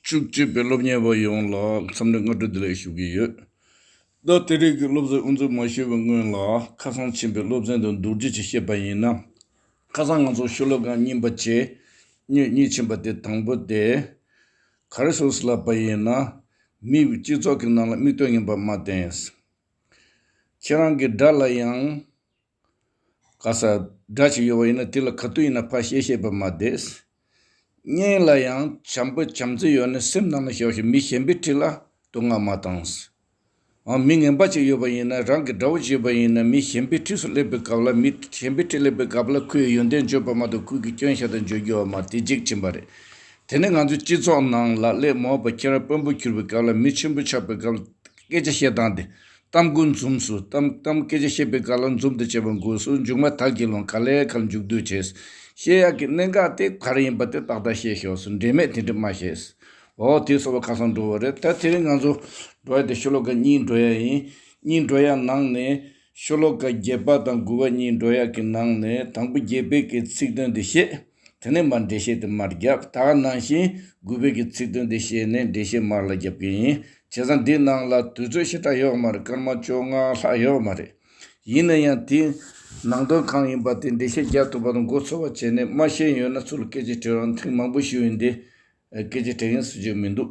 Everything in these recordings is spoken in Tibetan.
བཅུ་གཅིག་པའི་སློབ་གཉེར་བ་ཡོངས་ལ་འཚམས་འདྲི་བསྔགས་བསྐྲུན་བདེ་ལེགས་ཞུ་གི་ཡོད། ད་ལྟའི་རིང་གི་སློབ་གསོའི་དབུ་འཛུགས་མ་ཞུས་པའི་སྔོན་ལ་ཁ་སང་ཕྱིན་པའི་སློབ་ཚན་དུ་འདུག་རྗེས་ཀྱི་བཤད་པ་ཡིན་ན། ཁ་སང་ང་ཚོ་ཤོ་ལོ་ཀ་རྙིང་པ་ཇེ་སྙོད་གཉིས་ཕྱིན་པ་དེ་དང་པོ་དེ། ག་རེ་ཟུར་ཟླ་བ་ཡིན་ན། མིའི་སྤྱི་ཚོགས་ཀྱི་ནང་ལ་དམིགས་དོན་ངན་པ་མ་བསྟན། ཁྱེད་རང་གི་དགྲ་ལ་ཡང། ག་ས་སྒྲ་ཞིག་ཡོད་པ་ཡིན་ན་དེ་ལ་ག་དུས་ཡིན་ན་ཕ་བཤད་བཤད་པར་མ་བསྡད། སྙིང་ལ་ཡང་བྱམས་པོ་བྱམས་བརྩེ་ཡོད་ནི་སེམས་ནང་ན་ཞོག་ཤིག་མི་གཞན་པའི་ཁྲི་ལ་བསྟོད་བསྔགས་མ་བཏང། འང་མི་ངན་པ་ཅིག་ཡོད་པ་ཡིན་ན་རང་གི་དགྲ་བོ་བྱེད་པ་ཡིན་ན་མི་གཞན་པའི་ཁྲི་སུ་སླེབས་པའི་སྐབས་ལ་མི་གཞན་པའི་ཁྲི་སླེབས་པའི་སྐབས་ལ་ཁོའི་ཡོན་ཏན་བརྗོད་པ་མ་གཏོགས་ཁོའི་གི་སྐྱོན་ཤ་དང་བརྗོད་རྒྱུ་བ་མ་དེ་འཇིག་ཕྱིན་པ་རེད། དེ་ནི་ང་ཚོའི་སྤྱི་ཚོགས་ནང་ལ་གླེགས་མོ་བ་ཁྱེད་རང་དཔོན་པོ་གྱུར་པའི་སྐབས་ལ་མི་ཆེན་པོ་ཆགས་པའི་སྐབས་ལ་སྐད་ཆ་བཤད་སྟངས་དེ་གཏམ་དགུ་འཛུམ་སུ་གཏམ་གཏམ་སྐད་ཆ་བཤད་པའི་ག་ལ་འཛུམ་དུ་བྱེད་པ་འགོས་སུ་མཇུག་མ་དག་གི་ལོང་ག་ལས་གར་མཇུག་སྡུད་བྱས། བཤད་ཡག་གི་གནད་འགག་དེ་གར་ཡིན་པ་དེ་ཏག་ཏག་བཤད་ཤོག་སུ་འབྲེལ་མེད་དེ་འདྲི་མ་བྱས། འོ་དེ་སོ་བ་ཁ་སང་འགྲོ་བ་རེད་ད་དེ་རིང་ང་ཚོ་འགྲོ་ཡ་དེ་ཤོ་ལོ་ཀ་གཉིས་འགྲོ་ཡ་ཡིན། གཉིས་འགྲོ་ཡ་ནང་ནས་ཤོ་ལོ་ཀ་བརྒྱད་པ་དང་དགུ་བ་གཉིས་འགྲོ་ཡ་གི་ནང་ནས་དང་པོ་བརྒྱད་པའི་གི་ཚིག་དོན་དེ་བཤད། དེ་ནས་མར་འགྲེལ་བཤད་དུ་མར་བརྒྱབ་དག་གནང་ཞིང་སྒུལ་བོད་ཀྱི་ཚིག་དོན་དེ་བཤད་ནས་འགྲེལ་བཤད་མར་ལ་བརྒྱབ་གི་ཡིན། བྱས་ཙང་འདི་ནང་ལ་དུས་ཚོད་ཞེ་དྲག་ཡོད་མ་རེད་སྐར་མ་བཅོ་ལྔ་ལྷག་ཡོད་མ་རེད། ཡིན་ན་ཡང་དེའི་ནང་དོན་གང་ཡིན་པ་དེ་འགྲེལ་བཤད་རྒྱག་ཐུབ་པ་དང་མགོ་ཚོས་པ་བྱས་ནས་མ་ཤེས་ཡོད་ན་ཚུར་སྐད་ཆ་དྲིས་རོགས་ཐེངས་མང་པོ་ཞུས་ཡིན་དེ་སྐད་ཆ་དྲིས་ཡིན་ཟེར་རྒྱུ་མི་འདུག།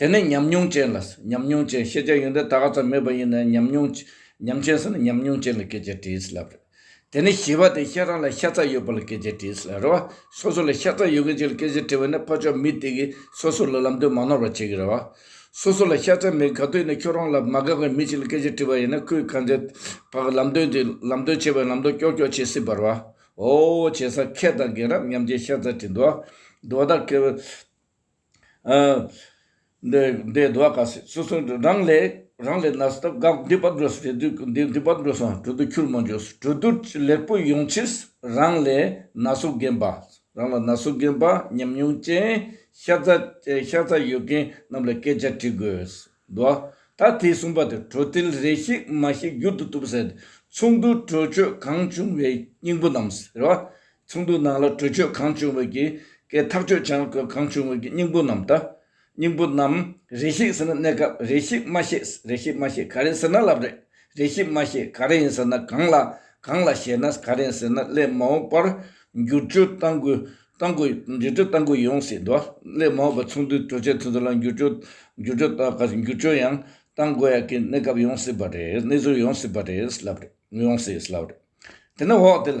དེ་ནི་ཉམས་མྱོང་ཅན་ལ་ཟེར་ཉམས་མྱོང་ཅན་ཤེས་བྱ་ཡོན་ཏན་ད་ག་ཙམ་མེད་པ་ཡིན་ནའི་ཉམས་མྱོང། ཉམས་ཅན་ཟེར་ན་ཉམས་མྱོང་ཅན་ལ་སྐད་ཆ་དྲིས་ལབ་རེད། དེ་ནི་ཞི་བ་དེ་ཤ་ར་ལ་ཤ་ཚ་ཡོད་པ་ལ་སྐད་ཆ་དྲིས་ལབ་རེད་བ། སོ་སོ་ལ་ཤ་ཚ་ཡོད་མཁན་ཞིག་ལ་སྐད་ཆ་དྲི་བ་ནི་ཕ་ཕྱོགས་མི་དེ་གིས་སོ་སོ་ལ་ལམ་སྟོན་མ་ནོར་བ་བྱེད་ཀྱི་རེད་བ། སོ་སོ་ལ་ཤ་ཚ་མེད་དགག་དོན་ནི་ཁྱོད་རང་ལ་མ་དགག་པའི་མི་ཞིག་ལ་སྐད་ཆ་དྲི་བ་ཡིན་ན་ཁོས་གང་ཚེ་བག་ལམ་སྟོན་དུས་ལམ་སྟོན་བྱེད་པའི་ལམ་སྟོན་ཀྱོག་ཀྱོག་བྱེད་སྲིད་པར་བ། ཨོའོ་བྱེད་ས་ཁྱེད་དང་རྒན་རབས་མཉམ་བརྗེ་ཤ་ཚ་དྲི་འདུག་བ། འདུག་བ་དང། འདི་ཟླ་བ་ག་ཟེ་སོ་སོ་རང་ལས་རང་ལས་ན་སྟབས་དགའ་འདི་པར་འགྲོ་སོང་འདི་འདི་པར་འགྲོ་སོང་གྲོ་བསྡུ་ཁྱུར་མོ་འཇོག་སོང་གྲོ་བསྡུར་ལེགས་པོ་ཡོང་ཕྱིར་རང་ལས་ན་སོ་རྒན་པ་རང་ལ་ན་སོ་རྒན་པ་ཉམས་མྱོང་ཅན་ཤ་ཚ་ཤ་ཚ་ཡོད་མཁན་རྣམས་ལ་སྐད་ཆ་དྲི་དགོས་འདུག་ད་དེས་གསུངས་པ་དེ་གྲོ་ཐིལ་རེ་ཤིག་མ་ཤིག་བསྒྱུར་དུ་བཏུབ་ཟེར་ཚོགས་འདུར་གྲོས་ཆོད་གང་བྱུང་བའི་སྙིང་པོ་རྣམས་རེད་བ། ཚོགས་འདུའི་ནང་ལ་གྲོས་ཆོད་གང་བྱུང་བའི་གྱི་གའི་ཐག་གཅོད་བྱང་བཀོད་གང་བྱུང་བའི་གྱི་སྙིང་པོ་རྣམས་དང། སྙིང་པོ་རྣམས་རེ་ཞིག་ཟེར་ན་གནས་སྐབས་རེ་ཞིག་མ་ཤེས་རེ་ཞིག་མ་ཤེས་ག་རེ་ཟེར་ན་ལབ་རེ་རེ་ཞིག་མ་ཤེས་ག་རེ་ཡིན་ཟེར་ན་གང་ལ་གང་ལ་ཞེས་ན་ག་རེ་ཟེར་ན་སླད་མ་འོངས་པར་འགྱུར་བཅོས་གཏང་དགོས་གཏང་དགོས་འགྱུར་བཅོས་གཏང་དགོས་ཡོང་སྲིད་འདུག་སླད་མ་འོངས་པར་ཚོགས་འདུའི་གྲོས་ཆོད་དེ་ཚོ་ལ་འགྱུར་བཅོས་འགྱུར་བཅོས་གཏང་ག་འགྱུར་བཅོས་ཡང་གཏང་དགོས་ཡ་གི་གནས་སྐབས་ཡོང་སྲིད་པ་རེད་གནས་ཚུལ་ཡོང་སྲིད་པ་རེད་ལབ་རེ་ཡོང་སྲིད་ལབ་རེ་དེ་ནི་འོག་དེ་ལ་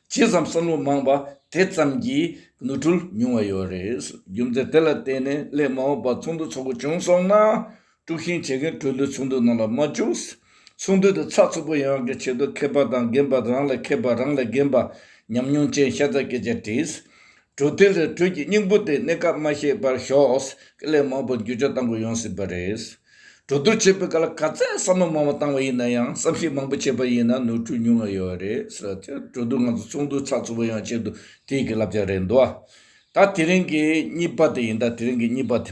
ཇི་ཙམ་བསམ་བློ་མང་བ་དེ་ཙམ་གྱིས་ནོར་འཁྲུལ་ཉུང་བ་ཡོད་རེད། རྒྱུ་མཚན་དེ་ལ་བརྟེན་ནས་སླད་མ་འོངས་པར་ཚོགས་འདུ་འཚོགས་དགོས་བྱུང་སོང་ན། དཀྲུགས་ཤིང་བྱེད་མཁན་གྲོས་བསྡུར་ཚོགས་འདུ་ནང་ལ་མ་བཅུག། ཚོགས་འདུ་དེ་ཚགས་ཚུད་པོ་ཡོང་བའི་ཆེད་དུ་མཁས་པ་དང་རྒན་པ་རང་ལ་མཁས་པ་རང་ལ་རྒན་པ་ཉམས་མྱོང་ཅན་ཤ་ཚ་སྐད་ཆ་དྲིས། གྲོས་མཐུན་རེ་གྲོས་ཀྱི་སྙིང་པོ་དེ་གནས་སྐབས་མ་ཤེས་པར་ཤོག་སྐད་ལས་མང་པོ་འགྱུར་བཅོས་གཏང་དགོས་ཡོང་སྲིད་པ་རེད། གྲོས་བསྡུར་བྱེད་པའི་སྐབས་ལ་ག་ཚད་བསམ་བློ་མང་བོ་བཏང་བ་ཡིན་ན་ཡང་བསམ་གཞིགས་མང་པོ་བྱས་པ་ཡིན་ན་ནོར་འཁྲུལ་ཉུང་ང་ཡོད་རེད་ཟེར་བ་དེར་གྲོས་བསྡུར་ང་ཚོ་ཚོགས་འདུ་ཚགས་ཚུད་པོ་ཡོང་ཆེད་དུ་དེ་ཡི་གི་ལབ་ཅག་རེད་འདུག་ཨ། ད་དེ་རིང་གི་གཉིས་པ་དེ་ཡིན་ད་དེ་རིང་གི་གཉིས་པ་དེ།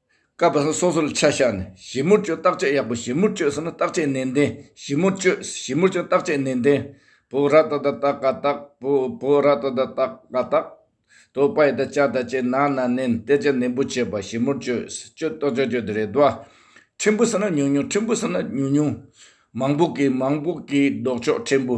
སྐབས་སོ་སོ་ལ་ཆ་བཞག་ནས་ཞིབ་མོར་དཔྱོད་བརྟག་དཔྱད་ཡག་པོ་ཞིབ་མོར་དཔྱོད་ཟེར་ན་བརྟག་དཔྱད་ནན་ཏན་ཞིབ་མོར་དཔྱོད་ཞིབ་མོར་དཔྱོད་བརྟག་དཔྱད་ནན་ཏན་བོ་ར་ཏོ་ད་ཏག་ཀ་ཏག་བོ་བོ་ར་ཏོ་ད་ཏག་ཀ་ཏག་དོ་པའི་ད་ཅག་ད་ཅེ་ན་ན་ནན་གཏད་རྒྱ་ནན་པོ་བྱེད་པ་ཞིབ་མོར་དཔྱོད་དཔྱོད་ཏོ་ཅོ་ཅོ་དེ་རེད་དོ། ཕྲན་བུ་ཟེར་ན་ཉུང་ཉུང་ཕྲན་བུ་ཟེར་ན་ཉུང་ཉུང། མང་པོ་གི་མང་པོ་གི་ལྡོག་ཕྱོགས་ཕྲན་བུ།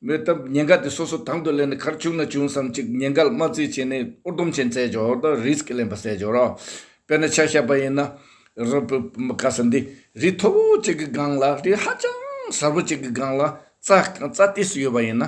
མོས་སྟབས་ཉེན་ཁ་དེ་སོ་སོ་དང་དུ་ལེན་ནས་ཁར་བྱུང་ན་བྱུང་བསམ་གཅིག་ཉེན་ཁ་ལ་དམག་རྩིས་བྱས་ནས་ཨོར་དུམ་ཆེན་བཙལ་འཇོག་དང་རིས་ཀྱི་ལེན་པ་བསལ་འཇོག་རོགས། དཔེར་ན་ཆ་ཤས་པ་ཡིན་ན། རི་བོ་དཀར་ས་འདི་རི་མཐོ་བོ་གཅིག་གི་སྒང་ལ་རི་ཧ་ཅང་གསར་བོ་གཅིག་གི་སྒང་ལ་རྩ་རྩ་དུས་སུ་ཡོད་པ་ཡིན་ན།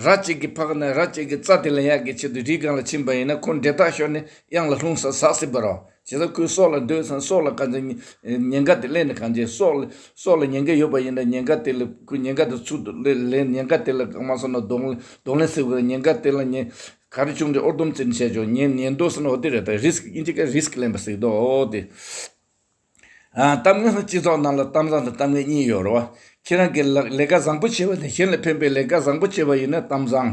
ར་གཅིག་གི་ཕག་ནས་ར་གཅིག་གི་རྩ་དེ་ལེན་ཡག་གི་ཆེད་དུ་རིའི་སྒང་ལ་ཕྱིན་པ་ཡིན་ན་ཁོ་འབྲས་ཐག་ཤོར་ནས་གཡང་ལ་ལྷུང་ས་ཟག་སྲིད་པ་རོགས། བྱས་ཙང་ཁོས་སྲོག་ལ་སྡོད་ཙང་སྲོག་ལ་གང་ཅིའི་ཉེན་ཁ་དེ་སླེབས་ནས་གང་བྱེད། སྲོག་ལ་སྲོག་ལ་ཉེན་ཁ་ཡོད་པ་ཡིན་ན་ཉེན་ཁ་དེ་ལས་ཁོས་ཉེན་ཁ་དེ་ཚུར་དུ་ལེན་ལེན་ཉེན་ཁ་དེ་ལ་གང་མ་སོང་ན་གདོང་གདོང་ལེན་སེ་དགོས་རེད་ཉེན་ཁ་དེ་ལ་ཉེན་ཁ་རེ་བྱུང་རྗེས་ཨོར་དུམ་ཙིར་བྱས་ཆོག་ཉེན་ཉེན་དོ་ཟེར་ན་ཨོ་དེ་རེད་ད་རིས་ཀི་ཨིན་ཇི་ཀ་རིས་ཀི་ལེན་པ་ཟིག་དོ་ཨོ་དེ། ཨ་གཏམ་ངན་སོང་སྤྱི་ཚོགས་ནང་ལ་གཏམ་བཟང་དང་གཏམ་ངན་གཉིས་ཡོད་རེད་བ། ཁྱེད་རང་གིས་ལག་ལས་ཀ་བཟང་པོ་བྱེད་པ་དེ་གཞན་ལ་ཕན་པའི་ལས་ཀ་བཟང་པོ་བྱེད་པ་ཡིན་ན་གཏམ་བཟང།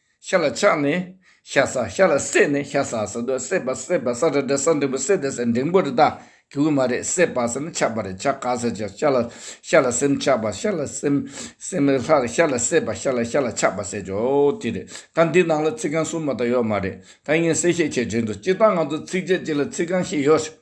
ཤ་ལ་ཆགས་ནས་ཤ་ཟ་ཤ་ལ་བསྲེས་ནས་ཤ་ཟ་ཟེར་དུས་བསྲེས་པ་བསྲེས་པ་ཟ་རེད་དྲ་ཟ་འབྲིང་པོ་བསྲེས་ཏེ་ཟེར་འབྲིང་པོ་རེད་ད་གི་དབུས་མ་རེད་བསྲེས་པ་ཟེར་ན་ཆགས་པ་རེད་ཆགས་ཀ་ཟེར་ཅིག་ཤ་ལ་ཤ་ལ་སེམས་ཆགས་པ་ཤ་ལ་སེམས་སེམས་ལ་ལྷ་ཤ་ལ་བསྲེས་པ་ཤ་ལ་ཤ་ལ་ཆགས་པ་ཟེར་ཅོག་དེ་རེད་ད་འདི་ནང་ལ་ཚིག་རྐང་གསུམ་མ་ད་ཡོད་མ་རེད་ད་ངས་གསལ་བཤད་བྱེད་བྱེད་འདུག་སྤྱིར་བཏང་ང་ཚོ་ཚིགས་བཅད་གཅིག་ལ་ཚིག་རྐང་བཞི་ཡོད་སྲིད།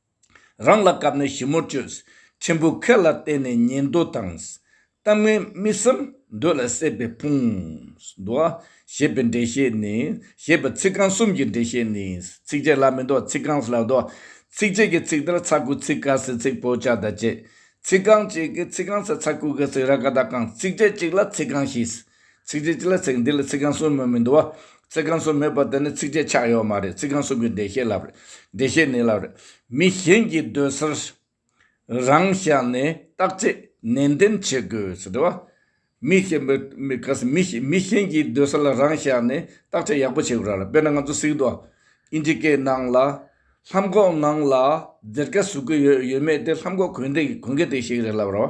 རང་ལ་སྐབས་ནས་ཞིབ་མོར་དཔྱོད། ཆེན་པོའི་ཁེ་ལ་བརྟེན་ནས་ཉན་འདོད་དང། གཏམ་ངན་མི་བསམ་འདོད་ལ་སྲེད་པའི་ཕུང། འདུ་བ་ཞེས་པའི་འགྲེལ་བཤད་ནི། ཞེས་པའི་ཚིག་རྐང་གསུམ་གྱི་འགྲེལ་བཤད་ནི། ཚིགས་བཅད་ལ་མི་འདོད་ཚིག་རྐང་ལ་འདོད། ཚིགས་བཅད་ཀྱི་ཚིག་དར་ཚ་ཀུ་ཚིག་ཀ་སེ་ཚིག་པོ་ལྕགས་དང་བཅས། ཚིག་རྐང་གཅིག་གི་ཚིག་རྐང་ཚ་ཚ་ཀུ་ཀ་ཚིག་ར་ཀ་དག་ཀང་ཚིགས་བཅད་གཅིག་ལ་ཚིག་རྐང་བཞི། ཚིགས་བཅད་གཅིག་ལ་ཚིག་འདི་ལ་ཚིག་རྐང་གསུམ་མོད་མི་འདུ་བ། ཚིག་རྐང་གསུམ་མེད་པར་དེ་ནི་ཚིགས་བཅད་ཆགས་ཡོད་མ་རེད་ཚིག་རྐང་གསུམ་གྱི་འགྲེལ་བཤད་བསླབ་རེད། འགྲེལ་བཤད་ནི་བསླབ་རེད། མི་གཞན་གྱི་སྡོད་སར་རང་བཞག་ནས་བརྟག་དཔྱད་ནན་ཏན་བྱེད་དགོས། འདྲི་བ། མི་གཞན་པའི་མི་ག་ས་མི་མི་གཞན་གྱི་སྡོད་ས་ལ་རང་བཞག་ནས་བརྟག་དཔྱད་ཡག་པོ་བྱེད་དགོས་ར་དཔེར་ན་ང་ཚོ་སིག་འདུ་བ། ཨིན་ཇི་སྐད་ནང་ལ། ལྷམ་གོག་ནང་ལ། ཟེར་སྐད་ཟུག་གི་ཡོད་ཡོད་མེད་དེ་ལྷམ་གོག་གོན་དེ་གོན་གི་དེ་ཞིག་རེད་ལབ་ར་བ།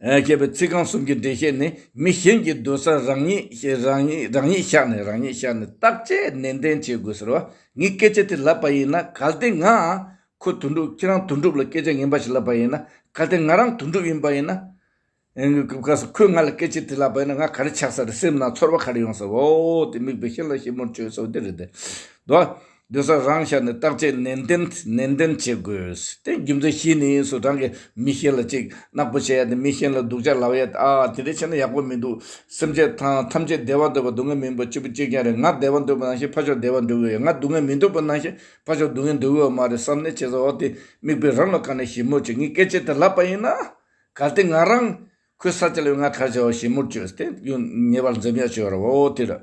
ཞེས་པའི་ཚིག་རྐང་གསུམ་གྱི་འགྲེལ་བཤད་ནི་མི་གཞན་གྱི་སྡོད་ས་རང་ཉིད་ཤར་ནས་རང་ཉིད་ཤར་ནས་བརྟག་དཔྱད་ནན་ཏན་བྱེད་དགོས་ཟེར་བ་ངས་སྐད་ཆ་དེ་ལབ་པ་ཡིན་ན་གལ་ཏེ་ང་ཁོ་དོན་འགྲུབ་ཁྱེད་རང་དོན་འགྲུབ་ལ་སྐད་ཆ་ངན་པ་ཞིག་ལབ་པ་ཡིན་ན་གལ་ཏེ་ང་རང་དོན་འགྲུབ་ཡིན་པ་ཡིན་ན། ཁོས་ང་ལ་སྐད་ཆ་དེ་ལབ་པ་ཡིན་ན་ང་ག་རེ་ཆགས་ས་རེད་སེམས་ནང་ཚོར་བ་ག་རེ་ཡོང་ས་རེད་འོ་དེ་མིག་དཔེ་ཤེས་ལ་ཤེས་མོར་བྱོས་སོ་དེ་རེད་དོ། སྡོད་ས་རང་ཤར་ནས་བརྟག་དཔྱད་ནན་ཏན་ནན་ཏན་བྱེད་དགོས། དེ་རྒྱུ་མཚན་ཤེས་ནས་ཡིན་སུ་རང་གི་མི་ཤེས་ལ་ཅིག་ནག་པོ་བྱེད་ཡ་དེ་མི་ཤེས་ལ་སྡུག་ཅག་ལབ་ཡ་ཨ་ཨ་དེ་འདྲས་བྱས་ན་ཡག་པོ་མི་འདུག་སེམས་ཅད་ཐང་ཐམས་ཅད་བདེ་བ་འདོད་པ་སྡུག་བསྔལ་མིན་པ་གཅིག་པུ་གཅིག་རྐྱང་རེད་ང་བདེ་བ་འདོད་པ་ནང་བཞིན་ཕ་ཆོག་བདེ་བ་འདོད་གི་ཡོད་ང་སྡུག་བསྔལ་མི་འདོད་པ་ནང་བཞིན་ཕ་ཆོག་སྡུག་བསྔལ་འདོད་གི་ཡོད་མ་རེད་བསམ་ནས་བྱས་ཟ་འོ་དེ་མིག་དཔེ་རང་ལ་བཀར་ནས་ཞིབ་མོར་བྱས་ངས་སྐད་ཆ་དེ་ལབ་པ་ཡིན་ན་གལ་ཏེ་ང་རང་ཁོའི་ས་ཆ་ལ་ཡོད་ང་ག་བྱ་བ་ཞིབ་མོར་བྱོས་དེ་ངེས་པར་འཛེམ་ཡག་བྱོས་ར་བ་འོ་དེ་ར།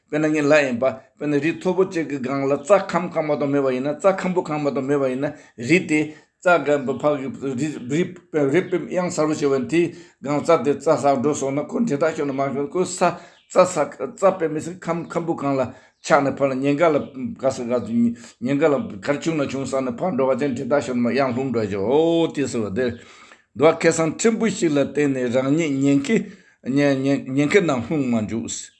དཔེར་ན་ཉིན་ལྷ་ཡིན་པ་དཔེར་ན་རི་མཐོ་པོ་གཅིག་གི་སྒང་ལ་རྩྭ་ཁམ་བཀང་མ་གཏོགས་མེད་པ་ཡིན་ན་རྩྭ་ཁམ་བུ་བཀང་མ་གཏོགས་མེད་པ་ཡིན་ན་རི་དེ་རྩྭ་གམ་བུ་ཕག་གི་རི་བེམ་དབྱངས་གསར་བུ་ཞེས་པ་དེའི་སྒང་རྩྭ་དེ་རྩྭ་ཟག་འགྲོ་སོང་ན་ཁོ་འདྲེ་དག་ཤོར་ནས་མ་ཤོར་ནས་ཁོའི་ས་རྩྭ་དཔེ་མི་སྲིད་ཁམ་ཁམ་བུ་གང་ལ་ཆགས་ནས་ཕར་ལ་ཉེན་ཁ་ལ་ག་ས་ག་ཚོད་ཉེན་ཁ་ལ་གར་བྱུང་ན་བྱུང་བསམ་ནས་ཕར་འགྲོ་བ་ཅན་འདྲེ་དག་ཤོར་ནས་མ་གཡང་ལྷུང་འགྲོ་ཞོག་ཨོ་དེ་ཟེར་བ་དེར་འགྲོ་བ་ཁེ་སང་ཕྲན་བུ་ཞིག་ལ་བརྟེན་ནས་རང་ཉིད་ཉེན་ཁའི་ནང་ལྷུང་མ་འཇུག་ཟེར།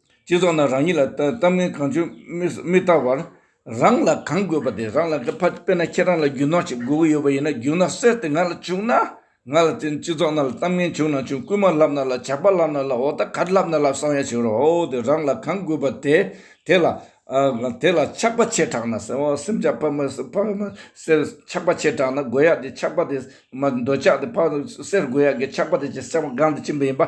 སྤྱི་ཚོགས་ནང་རང་ཉིད་ལ་གཏམ་ངན་གང་བྱུང་མི་ལྟ་བར། རང་ལ་གང་དགོས་པ་དེ་རང་ལ་དགའ། དཔེར་ན་ཁྱེད་རང་ལ་རྒྱུ་ནོར་ཞིག་དགོས་ཀྱི་ཡོད་པ་ཡིན་ན་རྒྱུ་ནོར་གསེར་དེ་ང་ལ་བྱུང་ན། ང་ལ་བརྟེན་སྤྱི་ཚོགས་ནང་ལ་གཏམ་ངན་བྱུང་ན་བྱུང་རྐུན་མ་བསླབ་ན་བསླབ་ཇག་པ་བསླབ་ན་བསླབ་འོ་ད་ག་རེ་བསླབ་ན་བསླབ་བསམ་ཡ་བྱེད་རོགས་ཨོ་དེ་རང་ལ་གང་དགོས་པ་དེ་དེ་ལ། དེ་ལ་ཆགས་པ་ཆེ་དྲགས་ན་སེམས་ཆགས་པ་ཕ་མ་ཆགས་པ་ཆེ་དྲགས་ན་དགོས་ཡག་དེ་ཆགས་པ་དེ། འདོད་ཆགས་དེ་ཕ་གསེར་དགོས་ཡག་གི་ཆགས་པ་དེ་ཅེས་སེམས་དབང་གང་དུ་ཕྱིན་པ་ཡིན་པ།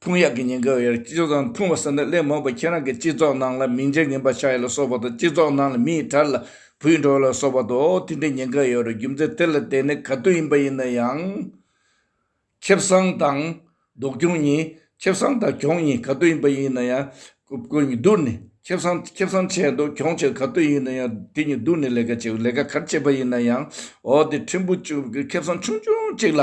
ཐུང་ཡག་གི་ཉེན་ཁ་བའི་སྤྱི་ཚོགས་དང་ཐུང་བ་ཟེར་ན་ལས་མོད་པ་ཁྱེད་རང་གི་སྤྱི་ཚོགས་ནང་ལ་མིང་ཅན་ངན་པ་ཆགས་ཡོད་ལ་སོགས་པ་དང་སྤྱི་ཚོགས་ནང་ལ་མི་ཡི་དར་ལ་བུད་འགྲོ་བ་ལ་སོགས་པ་དང་འོ་དེ་འདྲའི་ཉེན་ཁ་ཡོད་རེད་རྒྱུ་མཚན་དེ་ལ་བརྟེན་ནས་ག་དུས་ཡིན་པ་ཡིན་ན་ཡང། ཁེ་བཟང་དང་སྡུག་གྱོང་གཉིས། ཁེ་བཟང་དང་གྱོང་གཉིས་ག་དུས་ཡིན་པ་ཡིན་ན་ཡང། ཁོ་གཉིས་བསྡུར་ནས་ཁེ་བཟང་ཁེ་བཟང་ཆད་འདུག་གྱོང་ཆད་ག་དུས་ཡིན་ན་ཡང་དེ་གཉིས་བསྡུར་ནས་ལས་ཀ་བྱེད་དགོས་ལས་ཀ་གར་བྱེད་པ་ཡིན་ན་ཡང་འོ་དེ་ཕྲན་བུ་ཁེ་བཟང་ཆུང་ཆུང་གཅིག་ལ་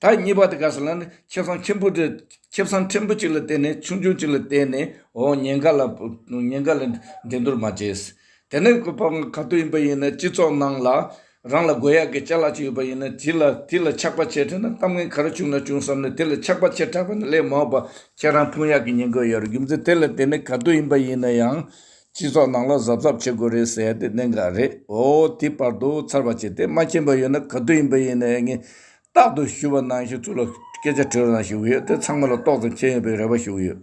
ད་གཉིས་པ་དེ་ག་ཟེར་ན་ནི་ཁེབས་སྲང་ཆེན་པོ་དེ་ཁེབས་སྲང་ཕྲན་བུ་གཅིག་ལ་བརྟེན་ནས་ཆུང་ཆུང་གཅིག་ལ་བརྟེན་ནས་འོ་ཉེན་ཁ་ལ་ཉེན་ཁ་ལ་འགྲན་སྡུར་མ་བྱེད། དེ་ནས་གོ་ཕམ་ག་དུས་ཡིན་པ་ཡིན་ན་སྤྱི་ཚོགས་ནང་ལ་རང་ལ་དགོས་ཡག་གི་བྱ་གླག་ཅིག་ཡོད་པ་ཡིན་ན་དེ་ལ་དེ་ལ་ཆགས་པ་བྱེད་འཕྲད་ན་གཏམ་ངན་ག་རེ་བྱུང་ན་བྱུང་བསམ་ནས་དེ་ལ་ཆགས་པ་བྱེད་འཕྲད་པ་ནི་ལས་མ་འོས་པ་ཁྱེད་རང་ཕུང་ཡག་གི་ཉེན་ཁ་ཡོད་རེད་རྒྱུ་མཚན་དེ་ལ་བརྟེན་ནས་ག་དུས་ཡིན་པ་ཡིན་ན་ཡང་སྤྱི་ཚོགས་ནང་ལ་གཟབ་གཟབ་བྱེད་དགོས་རེད་ཟེར་ཡ་དེ་གནད་འགག་རེད་འོ་དེ་བར་དུ་ཚར་བ་བྱས་ཏེ་མ་མཁྱེན་པ་ཡོད་ན་ག་དུས་ཡིན་པ་ཡིན་ནའི་ངས་རྟག་ཏུ་ཞུ་བ་ནང་བཞིན་ཚུར་ལ་སྐད་ཆ་དྲི་རུ་ན་ཞུ་གི་ཡོད་དེ་ཚང་མ་ལ་ཏོག་ཙམ་མཁྱེན་ཡོད་པའི་རེ་བ་ཞུ་གི་ཡོད།